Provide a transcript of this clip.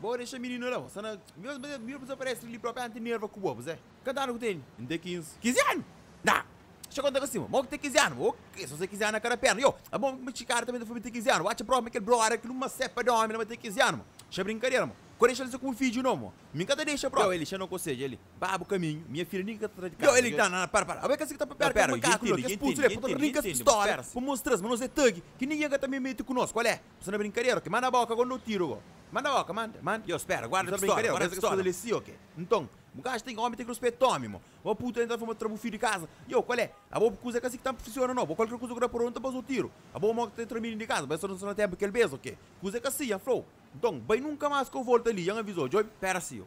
Bo dexa mininu la, bo sta na. Nhos mete mininu pa dizaparese li, li propi anti nerva ku bo. Bos é. Kanta anu ku tene? N te kinzi. Kinzi anu? Na! Xa konta ka sima. Mo ki te kinzi anu? Bo ke so se kinzi anu na kada perna? Yo! Abo ma kuma txikada ta mete fla mi te kinzi anu? Bo atxa propi ma kel brother ki nu ma sepa da omi la ma te kinzi anu? Mo xa brinkadera. Mo ko dexa li se kuma fidju no. Mo mi N ka ta dexa propi. Yo! Eli xa no kosedja. Eli ba bu kaminhu. Minha filha nika ka ta tra di kasa. Yo! Eli na na na para para. Abo é kes ki ta papera kel makaku li. Kes putsu li é pa ta rinka kes pistola pa mostra-s ma nos é tagi ki ninguin ka ta me mete ku nos. Kual é? Bu sta na brinkadera ok? Manda boka go nda-u tiru go. Manda boka, manda, manda. Yo, spera, guarda pistola, guarda pistola. Bu sta na brinkadera ok? Bu sta na pistola li si ok? Nton, bu ka axa ten ki omi ten ki ruspeta omi mo? Bo putu la intra fuma tra bu fidju di kaza? Yo, kual é? Abo bu kuza é ka si ki ta nfisiona no. Bo kualker kuza ku da purba, nu ta baza-u tiru. Abo mo ki ta intra mini di kaza? Bo esta nu sta na tenpu kel bes ok? Kuza é ka si, Yan fla-u. Nton, bai nunka mas ka u volta li, Yan aviza-u. Djobe, pera si yo.